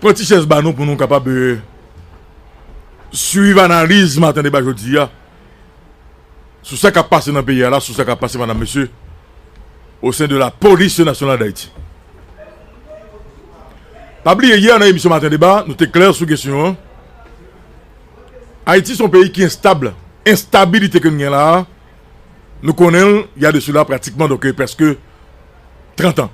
Pran ti chèz ba nou pou nou kapab swiv analiz maten deba jodi a sou sa k ap pase nan peyi a la, sou sa k ap pase madam mesye osen de la polis nasyonal dayiti. Pa bliye yè nan emisyon maten deba nou te klè sou kesyon an. Ayiti son peyi ki enstab, enstabilite ke nou gen la a nou konnen l ya de sou la pratikman donke preske 30 an.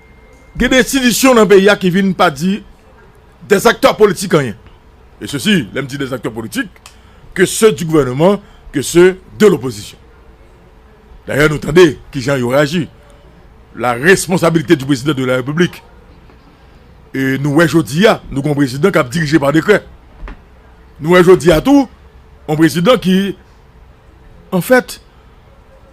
Gen de enstitisyon nan peyi a ki vin pa di dè zaktè politik anyen. E se si, lè m di dè zaktè politik, ke se di gouvèneman, ke se de lopozisyon. Dayè nou tande ki jan yo reyaji. La responsabilite di prezidan de la repiblik. E nou wè jodi a, nou gon prezidan kap dirije pa dekrè. Nou wè jodi a tou, yon prezidan ki, an fèt,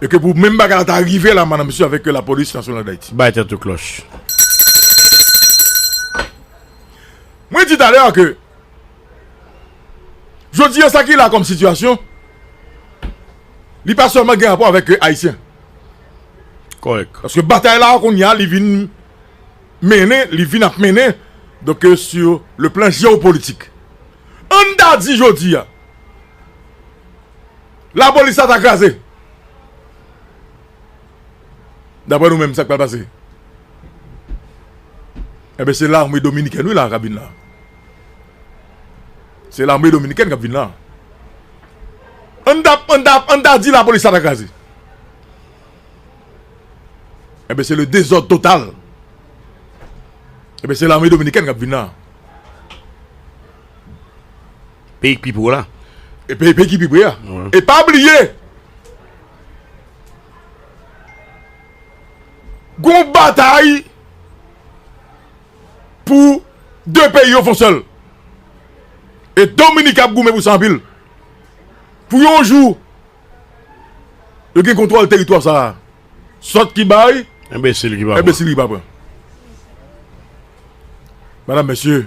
E ke pou menm bagay la ta rive la madan mesye avèk la polis nasyonal dayiti. Bay tèt ou klòch. Mwen di talè a ke jodi a sa ki la kòm sitiyasyon li pa sèlman gen rapò avèk ayisyen. Kòrèk. Paske batay la kounye a li vin mennen, li vin ap mennen donk sou le plan jewopolitik. Ann ta di jodi a. La polis la ta kraze. Daprè nou menm sak pral pase. Enben se lame dominiken wi la kap vin la. Se lame dominiken kap vin la. An ta an ta an ta di la polis la ta kraze. Enben se le dezòd total. Enben se lame dominiken kap vin la. Peyi k pi pre w la. Peyi peyi ki pi pre a. E pa bliye. Gon batay. Pou de peyi yo fon sèl. E dominika ap goumen pou sa anpil. Pou yon jou. Yo gen kontwòl teritwa sa a. Sòt ki bay. Enbesil ki pa pran. Enbesil ki pa pran. Madam mesye.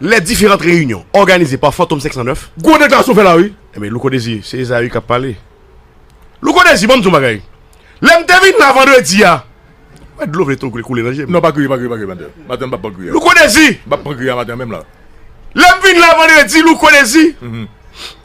lè diferant reyinyon òganize pa Fantom 509. Gwo deklarasyon w fè la wi. Enben Louko Dezi, se Ezayi k ap pale. Louko Dezi, ban m di w yon bagay. Lè m te vin la vandredi a, m wè dlo vle tonk koule nan je m. Non pa kriye, pa kriye, pa kriye maten an. Maten an m p ap pran kriye. Louko Dezi! M p ap pran kriye a maten an menm la. Lè m vin la vandredi, Louko Dezi,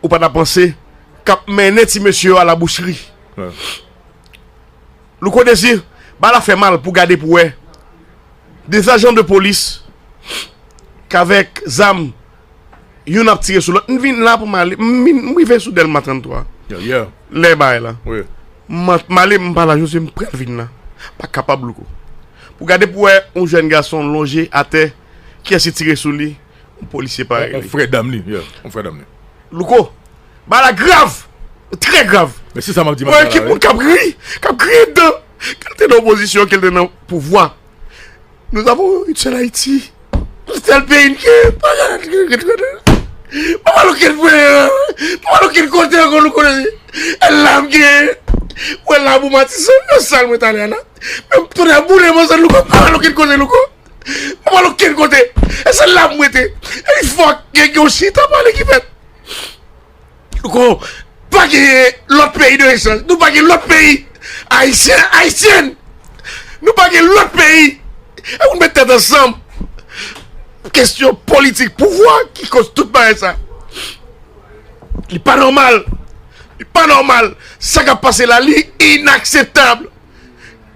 ou pa ta panse k ap mennen ti mesye yo a la boucheri. Louko Désir, bagay la fè mal pou gade pou wè 2 ajan de polis k avèk zam youn ap tire sou lòt. M vin la pou m ale, m rive sou Dèlma 33 lè bagay la. M ale m pa la José m pral vin la. M pa kapab Louko. Pou gade pou wè yon jèn gason lonje atè kiyès ki tire sou li. On polisye parèy li. On frè dam li, yeah, on frè dam li. Louko, bagay la grav! Trè grav! Men se sa map di matin an la wi. Mwen ekip moun kap ri, kap griyen dan. Ke l te nan opozisyon, ke l te nan pouvwa. Nous avons une seule Haïti. Se sèl peyi n gen. Pa gen lòt peyi ki gen. Pa pral okenn peyi an. Pa pral okenn kote ankò Louko. El la m gen. Ou el la pou Matisan. Nan sal mwen t ale a la. Menm tonè boule m ansann Louko. Pa pral okenn kote Louko. Mwen pral okenn kote. E se la mwen te. E li fò gen yon chita pale ki fèt. Ko pa gen lòt peyi de echanj. Nou pa gen lòt peyi. Ayisyen, Ayisyen. Nou pa gen lòt peyi. E moun mèt tèt ansanm. Kestyon politik pouvwa ki kòz tout bagay sa. Li pa nòmal. Li pa nòmal. Sa kap pase la li inakseptab.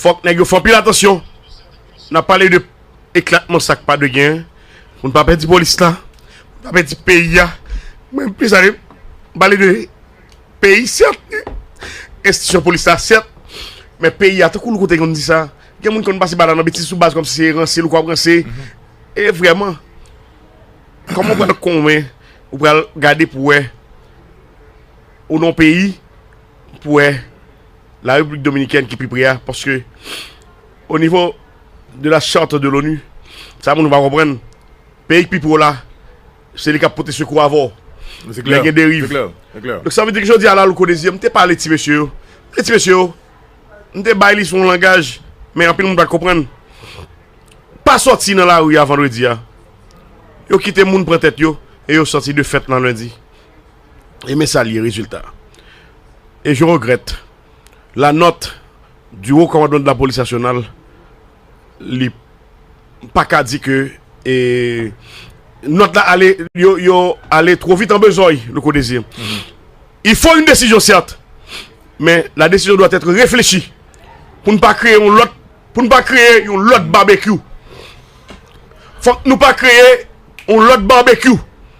Fòk nèg yo fè anpil atansyon nan pale de eklatman sak pa dwe gen pou n pa pèdi polis la, pou n pa pèdi peyi a. Mwen plis ale pale de peyi sèt, enstitisyon polis la sèt, men peyi a tankou louko te konn di sa, gen moun ki konn pase bal la nan betiz sou baz kòmsi se ranse louko ap ranse e vrèman kòman ou pral konwen ou pral gade pou wè ou nan yon peyi pou wè la repiblik dominikèn ki pi pre a paske o nivo de la charte de l'onu sa moun nou pa konprann peyi ki pi pre w la se li kap pote sekou avè w lè gen deriv donk sa vle di ke jodi a la louko dezi m te pale ti mesye yo m te di ti mesye yo m te bay li sou yon langaj men anpil moun pat konprann pa sòti nan lari a vandredi a yo kite moun pran tèt yo e yo sòti de fèt nan lendi. e men sa li ye rezilta e je regrèt la nòt di Wo Kòmandman de la Polis Nasyonal li pa ka di ke e nòt la ale yo ale two vit an bezòy nou ko dezi il fo yn desizyon sèt men la desizyon dwa tèt reflechi pou n pa kreye yon lòt pou n pa kreye yon lòt babekyou fòk nou pa kreye yon lòt babekyou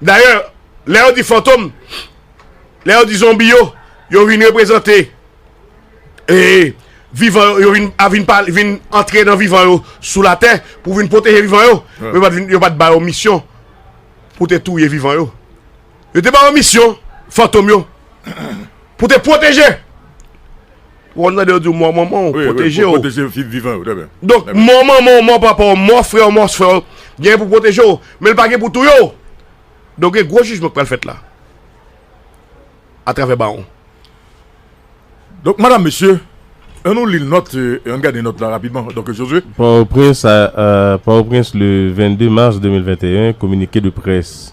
Dayè, lè yo di fantom, lè yo di zonbi yo, yo vin reprezante e vivan yo, yo vin a vin pale, vin antre nan vivan yo sou latè pou vin pwoteje vivan yo. Men yo pa t vin, yo pa t ba yo misyon pou te touye vivan yo. Yo te ba yo misyon, fantom yo, pou te pwoteje. Ou konn tande yo di w mò manman w pwoteje w. Donk mò manman w, mò papa w, mò frè w, mò sè w genyen pou pwoteje w, men l pa gen pou touye w. Donk gen gwo jijman k pral fèt la atravè bawon. Donk madam mesye, an nou li nòt, an n gade nòt la rapidman donk Josue. Port-au-Prince, Port-au-Prince, le 22 mars 2021, Communiqué de presse.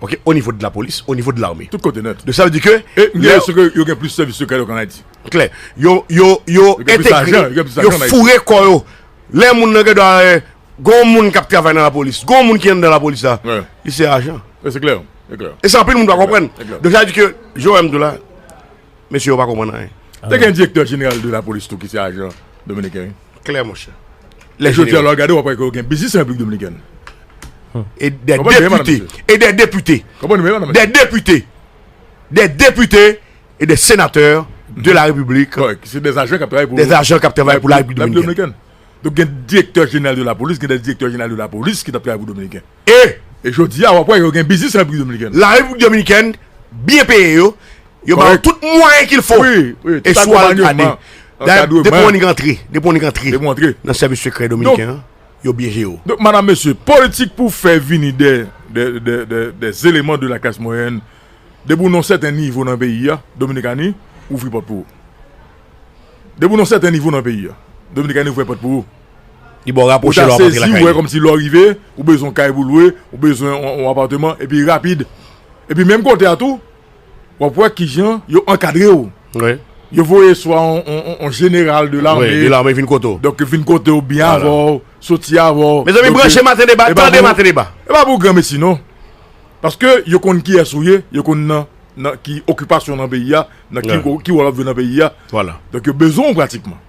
ok o nivo de la polis o nivo de l'armée tout kote nèt donc sa vle di ke e m gen enpresyon ke yo gen plis sèvis sekrè yo ke an Ayiti klè yo yo yo entegre yo foure kò yo lè moun nan gen dwa gon moun kap travay nan la polis gon moun ki anndan la polis la li se ajan e se klè e se anpil moun pa konprann donc sa vle di ke jan w wè m di w la. Mesye yo pa konprann anyen. Te gen direktè jeneral de lapolis tou ki se ajan dominiken wi. Klè monchè. Lè jodi a lè w ap gade w ap wè ke yo gen biznis an Repiblik Dominikèn. E dè depite, e dè depite, dè depite, dè depite e dè senatè de la Repiblik. Kòrèk. Se dè ajan k ap travay pou. Dè ajan k ap travay pou la Repiblik Dominikèn. Donk gen direktè jeneral de lapolis, gen dè direktè jeneral de lapolis ki t ap travay pou dominiken. E jodi a wap wè yo gen biznis an Repiblik Dominikèn. La Repiblik Dominikèn byen peye yo, yo ba yo tout mwayen kil fo e sou al gade. Dayè depi on antre, depi on antre nan sèvis sekrè Dominiken an, yo byen jere w. Donk madam mesye, politik pou fè vini dè dè eleman de la klas mwayèn depi w nan yon sèten nivo nan peyi a, Dominikani ouvri pòt pou ou. Depi w nan yon sèten nivo nan peyi a, Dominikani ouvri pòt pou ou. Ou ta sezi ou wè kòmsi lè w rive, ou bezwen yon kay pou w lwe, ou bezwen yon apateman epi rapid. Epi menm kote a tou, w ap wè kijan yo ankadre w. Yo voye swa yon jeneral de lame vin kote w. Donk yo vin kote w, byen avè w, soti avè w. Mezanmi branche maten deba, tande maten deba. E pa pou granmesi non. Paske yo konn kiyès ou ye, yo konn nan ki okipasyon nan peyi a, nan ki wòl w ap jwe nan peyi a. Donk yo bezwen w pratikman.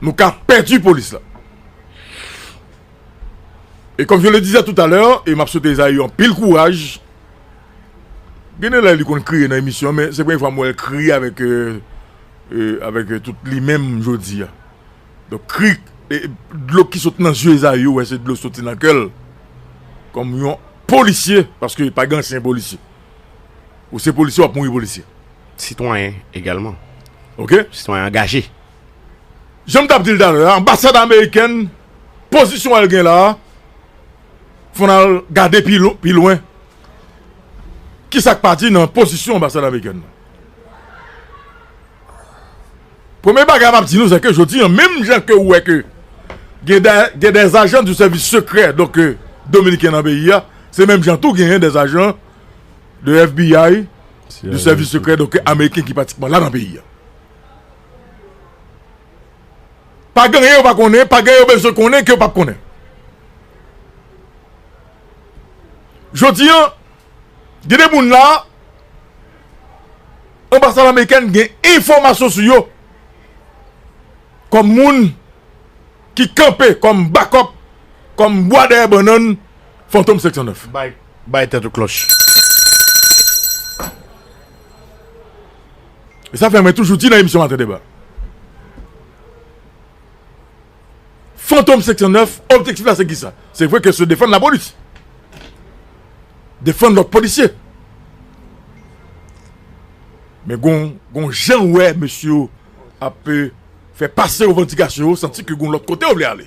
nou ka pèdi polis la. E kòm je le dizè tout alè, e m ap swete Ezayi anpil kouraj, gen de lè li konn kriye nan emisyon, men se premye fwa m wè l kriye avèk avèk tout li menm jodi a. Donk kri, dlo ki sot nan zye Ezayi ou wè se dlo soti nan kè l, kòm yon polisye, paske pa gen ansyen polisye. Ou se polisye w ap mouri polisye. sitwayen egalman ok sitwayen angaje. Janm tap dil talè a anbasad amerikèn pozisyon el gen la fon al gade pi lwen kisak pa di nan pozisyon anbasad amerikèn nan premye bagay map di nou seke jodi an menm jan ke ou wè ke gen des ajan du sèvis sekrè donk dominiken nan peyi a se menm jan tou gen des ajan de FBI. de sèvis sekrè donk ameriken ki pratikman la nan peyi a. Pa gen anyen yo pa konnen, pa gen anyen yo bezwen konnen ke yo pap konnen. Jodi an, gen de moun la, anbasad amerikèn gen enfòmasyon sou yo, kòm moun ki kanpe, kòm bakòp, kòm bwa dèyè bannann Fantom 509. Bay tèt ou klòch. E sa fè mwen toujou di nan emisyon Maten Deba. Fantom 509 objektif la se ki sa? Se vre ke se defann la polis. Defann lòt polisye. Men gon jan ou wè mesye yo ap pe fè pase revandikasyon yo santi ke gon lòt kote yo vle ale.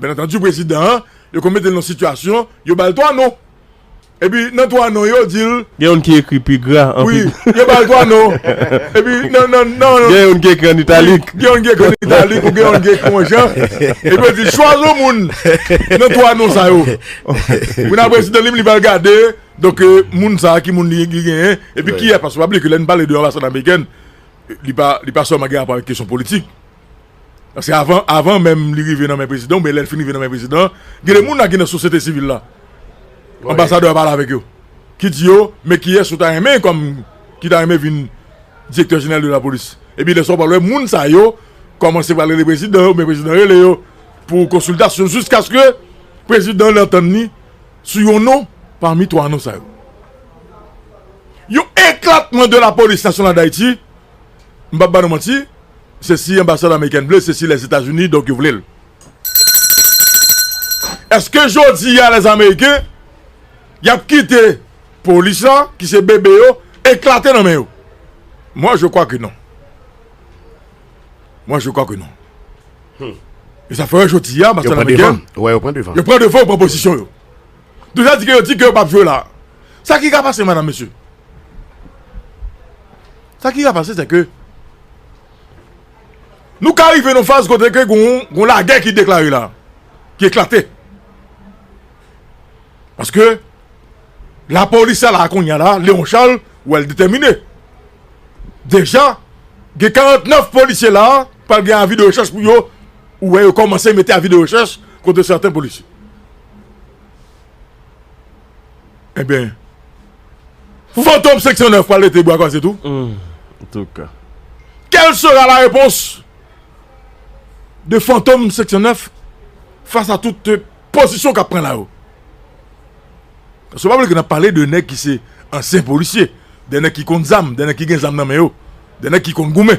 Byen antandi prezidan an, yo konn mete l nan sitiyasyon, yo ba l 3 non. Epi nan 3 non yo di l. Gen youn ki ekri pi gra an pi. Wi, yo ba l 3 non. Epi nan nan nan. Gen youn ki ekri an italik. Gen youn ki ekri an italik ou gen youn ki ekri yon jan. Epi yo di l chwazi yon moun nan 3 non sa yo. Kounye a prezidan li menm li pral gade donk moun sa a ki moun li genyen epi kiyès paske pa bliye ke lè nou pale de anbasad amerikèn li pa li pa sèlman gen rapò avèk kesyon politik. Paske avan avan menm li rive nan men prezidan oubyen lè l fin rive nan men prezidan an, gen de moun la ki nan sosyete sivil la, anbasadè a pale avèk yo, ki di yo men kiyès ou ta renmen kòm ki ta renmen vin direktè jeneral de lapolis. Epi lè sa w pral wè moun sa yo kòmanse pral rele prezidan yo oubyen prezidan rele yo pou konsiltasyon jiskaske prezidan an antann li sou yon non pami twa non sa yo. Yon eklatman de lapolis nasyonal Dayiti. m pap ba nou manti se si anbasad amerikèn vle se si lèzetazini donk yo vle l eske jodi a lèzameriken yap kite polis la ki se bebe yo eklate nan men yo mwen je kwa ke non mwen je kwa ke non e sa fè jodi a yo pran devan yo pran pozisyon yo Deja di ke yo di ke yo pap jwe la. Sa ki ka pase madam mesye? Sa ki ka pase se ke nou ka rive nan faz kote ke gon lagè ki deklare la. Ki eklate. Paske la polis sa la kounye la, Leon Charles, ou wèl detèmine. Deja gen 49 polisye la, pral gen avi de rechèch pou yo, ou wè yo komanse mete avi de rechèch kote sèten polisye. Ebyen Fantom 509 pral rete bwa kwaze tou? Antouka. Quelle sera la réponse de Fantom 509 fas a tout pozisyon kap pran la yo? Paske pa bliye ke nap pale de nèg ki se ansyen polisye, de nèg ki konn zam, de nèg ki gen zam nan men yo, de nèg ki konn goumen.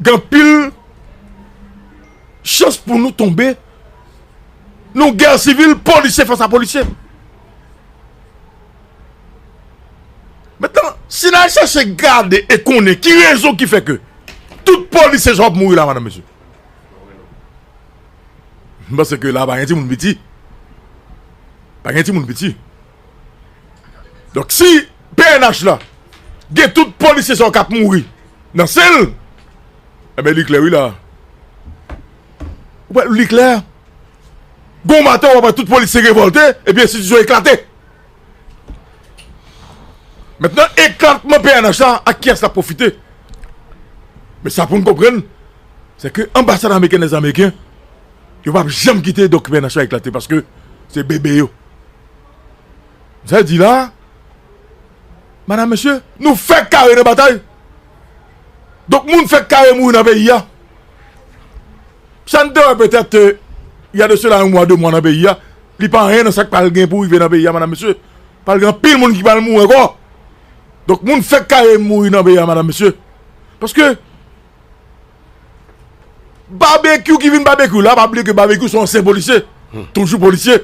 gen anpil chans pou nou tonbe nan gè sivil polisye fas a polisye. Metan, si nan chache gade e konnen ki rezon ki fè ke tout polisye sa yo ap mouri la madan mesye. M panse ke la pa gen timoun piti. Pa gen timoun piti. Donk si pnh la gen tout polisye sa yo k ap mouri nan sen l, enben li klè wi la a. Ou pa wè li klè? Gon maten w ap wè tout polisye revòlte epi enstitisyon eklate. Mentnan eklatman pnh la ak kiyès l ap pwofite? Men sa pou n konprann se ke anbasad ameriken dèzamerken yo pa p janm kite donk pnh la eklate paske se bebe yo. Sa di la, madam mesye. Nou fèk kare nan batay. Donk moun fèk kare mouri nan peyi a. Sa n te wè petèt y a de sela yon mwa de mwa nan peyi a, li pa anyen nan sa k pral gen pou rive nan peyi a madam mesye. Pral gen anpil moun ki pral mouri ankò. Donk moun fèk kare mouri nan peyi a madam mesye. Paske. Babekyou ki vin babekyou la pa bliye ke babekyou se yon ansyen polisye toujou polisye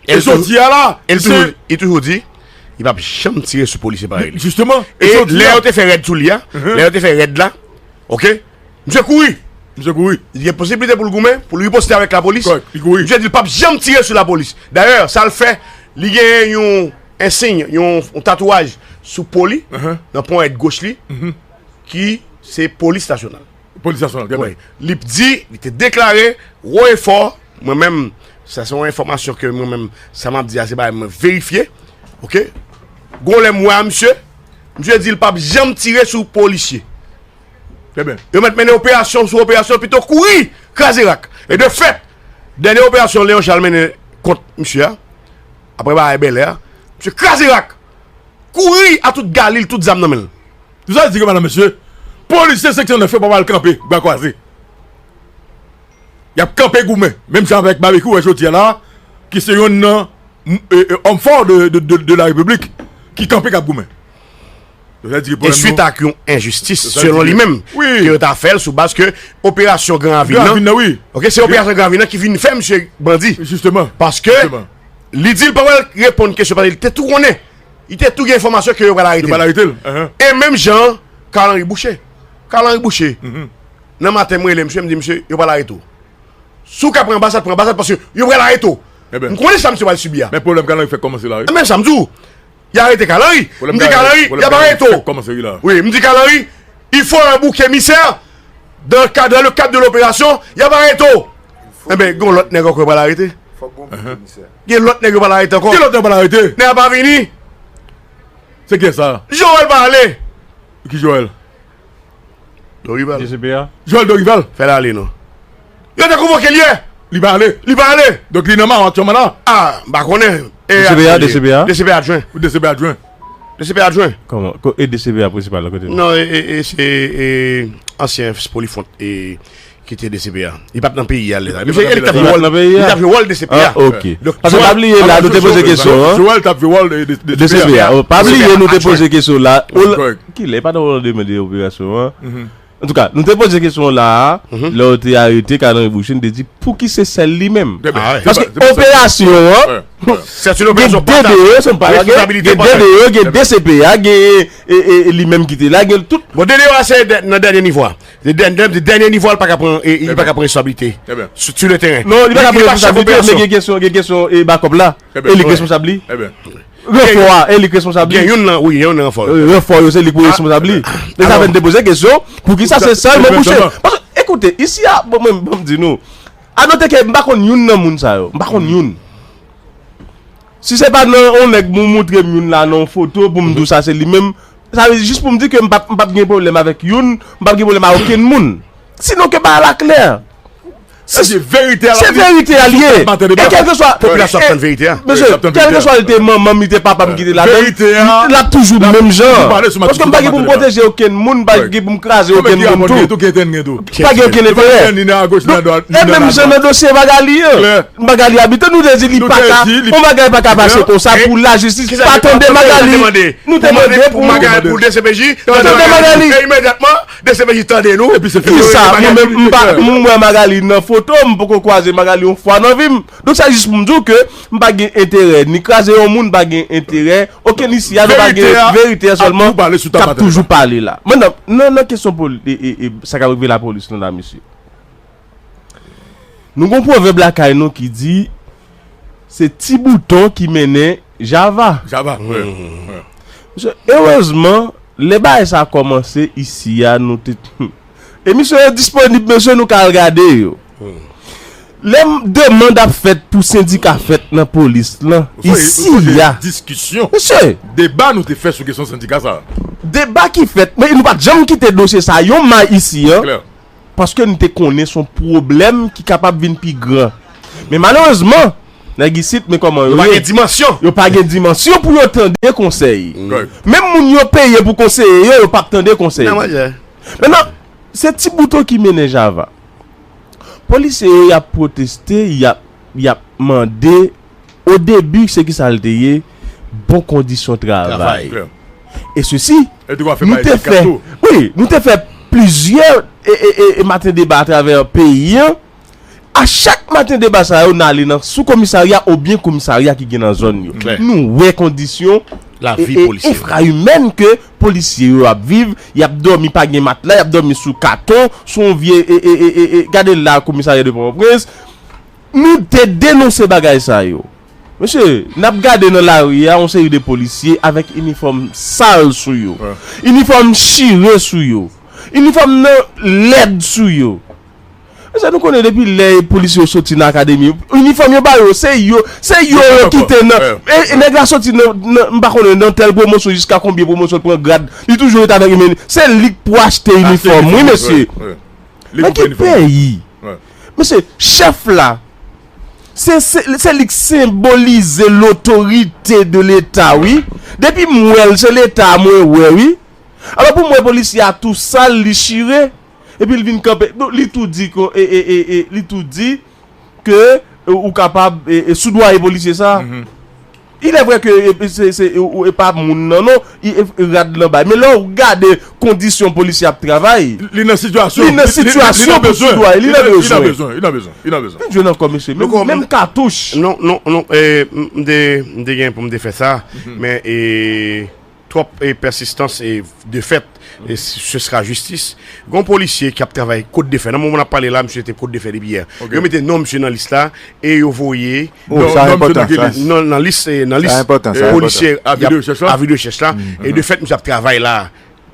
e jodi a la e li toujou di li pap janm tire sou polisye parèy li e lè yo te fè rèd sou li a lè yo te fè rèd la ok misye kouri li gen posibilite pou l goumen pou l riposte avèk lapolis misye di l pap janm tire sou lapolis dayè sa l fè li gen yon ensiy yon tatouaj sou po li nan ponyèt goch li ki se polis nasyonal. Polis nasyonal, trè byen. Li di, li te deklare, wo e fò, mwen menm, sa se yon enfòmasyon ke mwen menm, sa m ap di a, se bagay mwen verifye, ok, gwo lè m wè a misye, misye di l pa p janm tire sou polisye. Trè byen. Yo mèt mennen operasyon sou operasyon, pito kouri, kraze rak. E de fèt, dènye operasyon Leon Charles mennen kont misye a, apre bagay Bèlè a, misye kraze rak, kouri a tout galil, tout zam nan men l. Sa di ke madan mesye, polisye seksyon 9 yo pa pral kanpe bra kwaze. Y ap kanpe goumen. Menm jan avèk Babekyou wè jodi a la a, ki se yonn nan òm fò de la repiblik ki kanpe k ap goumen. E swit ak yon enjistis selon li menm ke yo ta fè l sou baz ke operasyon gran ravin nan. Gran ravin nan wi. Ok, se operasyon gran ravin nan ki vin fè misye bandi. Jisteman. Paske li di l pa pral reponn kesyon paske li te tou konnen Li te tou gen enfòmasyon ke yo pral arete l. E menm jan an, Carl Henry Boucher. Carl Henry Boucher, nan maten m rele msye, m di msye, yo pral arete w. Si w ka pran anbasad, pran anbasad paske yo pral arete w. M konnen sa msye pral sibi a. Men pwoblèm Carl Henry fèk kòmanse la wi. Men sa m di w. Y arete Carl Henry. M di Carl Henry, y ap arete w. Pwoblèm Carl Henry fèk kòmanse wi la. Wi, m di Carl Henry, il faut un bouc émissaire dans le cadre de l'opération, y ap arete w. Enben, gen yon lòt nèg ankò yo pral arete. Fòk gen yon bouc émissaire. Gen lòt nèg yo pa al arete ankò. Gen lòt nèg yo pa al arete. Nèg la pa vini. Se kiyès sa a? Joel pa ale. Ki Joel? Dorival. JCP a? Joel Dorival. Fè l ale non. Yo te konvoke l yè. Li pa ale. Li pa ale. Donk li nan maron aktyèlman la? A, m pa konnen. E DCP a? DCP a? DCP adjwen. Ou DCP adjwen? DCP adjwen. Kòman? Ko e DCP a prensipal la kote l? Non e e se e ansyen Spolifont e Ki te dcpj? Li pat nan peyi a lè sa. Li pat nan peyi a. Li tap jwe wòl dcpj. Ah ok. Pase pa bliye la nou te poze kesyon an. Joel tap jwe wòl dcpj. Pa bliye nou te poze kesyon la. Ki lè? Li pa nan wòl de mède operasyon an. An touka, nou te poze kesyon la a. Lè yo te arete Carl Henry Boucher nou te di pou ki se sèl li menm. Paske operasyon an. Sèti nou gen de de yo. Gen de de yo. Gen dcpj. Gen li menm ki te la. Gen tout. Bon de de yo a se nan dènye nivo a. Se dènye nivo a li pa ka pran responsablite sou le teren. Non li pa ka pran responsablite men gen kesyon gen kesyon e bakòp la e li k responsab li. Ranfò a e li k responsab li. Gen youn nan wi gen youn nan ranfò yo. Ranfò yo se li k pou responsab li. E sa fè n te poze kesyon poukisa se sèl mwen kouche. Ekoute isi a bon mwen m di nou a note ke m pa konn youn nan moun sa yo. M pa konn youn. Si se pa nan yon nèg moun moutre m youn la nan yon foto pou m di w sa se li menm. Sa vle di jis pou m di ke m pap m pap gen pwoblèm avèk youn, m pap gen pwoblèm a okenn moun. Sinon ke bagay la klè. Sa vle di verite a l ap di. Se verite a li ye. E kèlkeswa. Popilasyon ap tann verite a. Mesye, kèlkeswa li te manman m, li te papa m ki te la dan m, l ap toujou menm jan. Paske m pa gen pou m pwoteje okenn moun, m pa gen pou m kraze okenn moun tou. Pa gen okenn enterè. E menm jan nan dosye Magalie an. Magalie Habitant nou te di li paka yon bagay paka pase konsa pou la jistis pa tande Magalie nou te mande pou Magalie pou dcpj tande Magalie e imedyatman dcpj tande nou epi se fini kisa mwen menm m pa m wè Magalie nan foto m poko kwaze Magalie yon fwa nan vim donk sa jis pou m di w ke m pa gen enterè ni kraze yon moun m pa gen enterè okenn isi a nou pa gen verite a sèlman k ap toujou pale la nan kesyon sa k ap rive lapolis nou la mesye. Nou gon pwovèb lakay nou ki di se ti bouton ki mennen java. Java, wi. Mesye, erezman, lè bagay sa kòmanse isi a nou te Emisyon yo disponib mesye nou ka al gade yo. Lè demand ap fèt pou sendika fèt nan polis lan isi a. Diskisyon, deba nou te fè sou kesyon sendika sa. Deba ki fèt, men nou pa janm kite dosye sa yon may isi an. Paske n te konnen s on pwoblèm ki kapab vin pi gran. Men malerezman, nèg isit men kòman yo ye, yo pa gen dimansyon pou yo tande konsèy. Menm moun yo peye pou konseye yo, yo p ap tande konsèy. Mennan, se ti bouton ki mennen java. Polisye yo y ap pwoteste, y ap mande. O debi se ki sa l te ye, bon kondisyon travay. E sesi, nou te fè, wi, nou te fè plizyè maten deba atravè peyi an. A chak maten deba sa yo, n ale nan sou komisarya oubyen komisarya ki gen nan zòn yo. Nou wè kondisyon enfra imèn ke polisye yo ap viv, y ap dòmi pa gen matla, y ap dòmi sou katon, sou yon vye, gade la komisarya de Pòtoprens. Nou te denonse bagay sa yo. Mesye, n ap gade nan lari a yon seri de polisye avèk inifòm sal sou yo. Inifòm chire sou yo. Inifòm nan lèd sou yo. Mesye, nou konnen depi lè polisye yo soti nan akademi, inifòm yo ba yo, se yo, se yo yo kite nan, e nèg la soti nan, nan, m pa konnen, nan tèl pwomosyon jiska konbyen pwomosyon l pran grad, li toujou ret avèk, se li k pou achte inifòm wi mesye. Nan ki peyi? Mesye, chèf la, se li k senbolize lotorite de leta wi. Depi m wè l, se leta a mwen wè wi. Alò pou m wè polisye a tou sal, li chire, epi l vin kanpe, li tou di ke, li tou di ke ou kapab soudoye polisye sa a. Il est vrai que e pa moun nan non, rad lan bay. Men lè ou gade kondisyon polisye ap travay. Li nan sitiyasyon. Li nan sitiyasyon pou ti dwa. Li nan bezwen. Li nan bezwen. Li nan bezwen. Gen dye nan kò mesye. Menm katouch. Non, non, non. M te gen pou m te fè sa. Men e. Twòp pèsistans e defèt e se sera jistis. Gon polisye ki ap travay Kot Defè. Nan moman n ap pale la, misye te Kot Defè depi yè. Yo mete non misye nan lis la e yo voye non nan lis polisye avi de rechèch la. E de fèt misye ap travay la.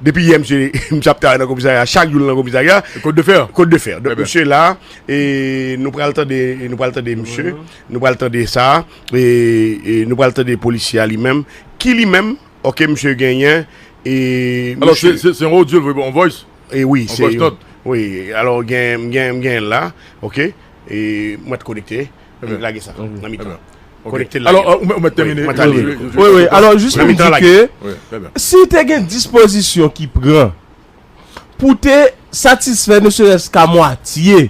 Depi yè misye ap travay nan komisarya. Chak jou l nan komisarya. Kot Defè. Kot Defè. Donk misye la e nou pral tande misye. Nou pral tande sa. E nou pral tande polisye a li menm ki li menm ok misye genyen e Alò se se yon audio l voye on voice? E wi se yon wi alò gen m gen m gen l la ok e m mèt konekte e lage sa nan mitan an. Konekte l lage l. Alò ou mèt tèmine mwen ta li l. Wi wi alò jis pou m di ke si te gen dispozisyon ki pran pou te satisfè ne serès ka mwatye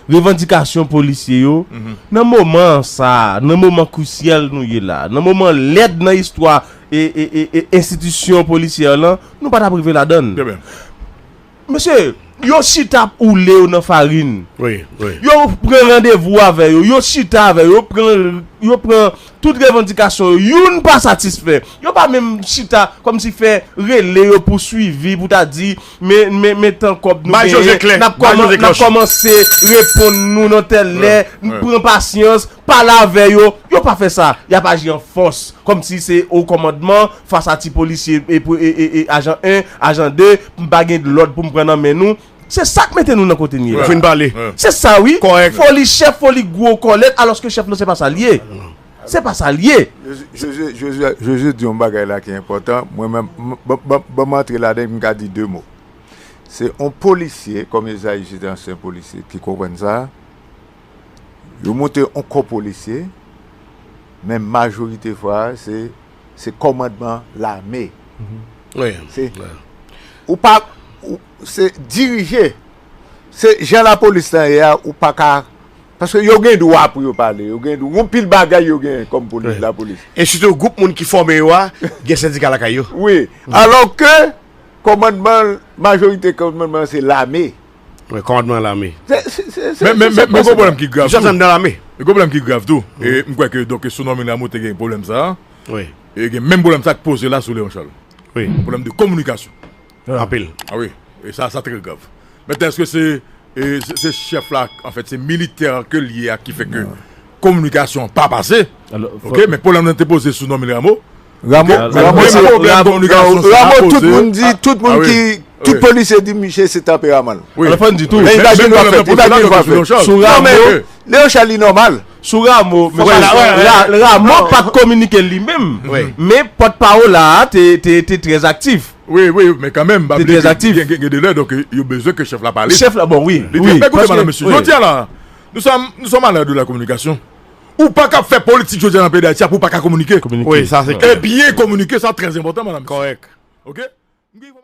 revandikasyon polisye yo nan moman sa, nan moman krisyèl nou ye la, nan moman lèd nan istwa enstitisyon polisyè lan, nou pa t ap rive ladann. Mesye, yo chita ap oule yo nan farin. Yo pran randevou avè yo, yo chita avè yo, yo pran Tout revandikasyon yo, youn pa satisfè. Yo pa menm chita kòm si fè rele yo pou swivi, pou ta di, men, men, men tan kòb nou genyen, n ap kòman, n ap kòmanse reponn nou nan tèl lè, n pran pasyans, pale avè yo. Yo pa fè sa. Y ap aji an fòs, kòm si se o kòmandman, fas a ti polisye, e, e, e, e, ajan 1, ajan 2, m pa gen lòd pou m pran nan men nou. Se sak mete nou nan kote n ye la. Ou fin pale. Se sa wi. Kòrèk. Foli chèf, foli gwo kòlèt alòske chèf nou se pa sa l ye. Se pa sa l ye. Josue, Josue, Josue di yon bagay la ki enpòtan, mwen menm m, ban, ban, ban m antre ladan l pou m ka di 2 mo. Se yon polisye, kòm Esaïe se te ansyen polisye ki konprann sa, yo monte yon kò polisye, men majorite fwa se se kòmandman lame. Se, ou pa, se dirije. Se jan lapolis lan ye a, ou pa ka, paske yo gen dwa pou yo pale, yo gen dwa, gon pil bagay yo gen kòm polis, lapolis. E sitou gwoup moun ki fòme yo a, gen sendika lakay yo. Wi, alò ke kòmandman, majorite kòmandman se lame. Mwen kòmandman nan lame. Men gwo pwoblèm ki grav tou. Gen pwoblèm ki grav tou. M kwè ke donk sou nòmil Rameau te gen pwoblèm sa a. E gen menm pwoblèm sa k poze la sou Léon Charles. Pwoblèm de kominikasyon. Anpil. A wi. E sa sa trè grav. Mentnan èske se se chèf la anfèt se militè a ke l ye a ki fè ke kominikasyon an pa pase. Ok men pwoblèm nan te poze sou nòmil Rameau. Ramo tout moun di, tout moun ki, tout polisye di misye se tanperaman l. Alò fò n di tou. Imajin nou fè, imajin nou fè. Sou Ramo, Léon Charles li nòmal. Sou Ramo, Ramo pat kominike li menm. Men pòt pawòl la te trèz aktif. Wi, wi, men kanmenm. Te trèz aktif. Gen de lè, donk yo bezwen ke chèf la pale. Chèf la, bon wi. Li te, men koute mwen la mesye. Jodi a la, nou sòm a lè de la kominikasyon. Ou pa kab fè politik jodi a nan peyi Dayiti a pou ou pa ka kominike. E byen kominike sa trè enpòtan, mèdam mesye.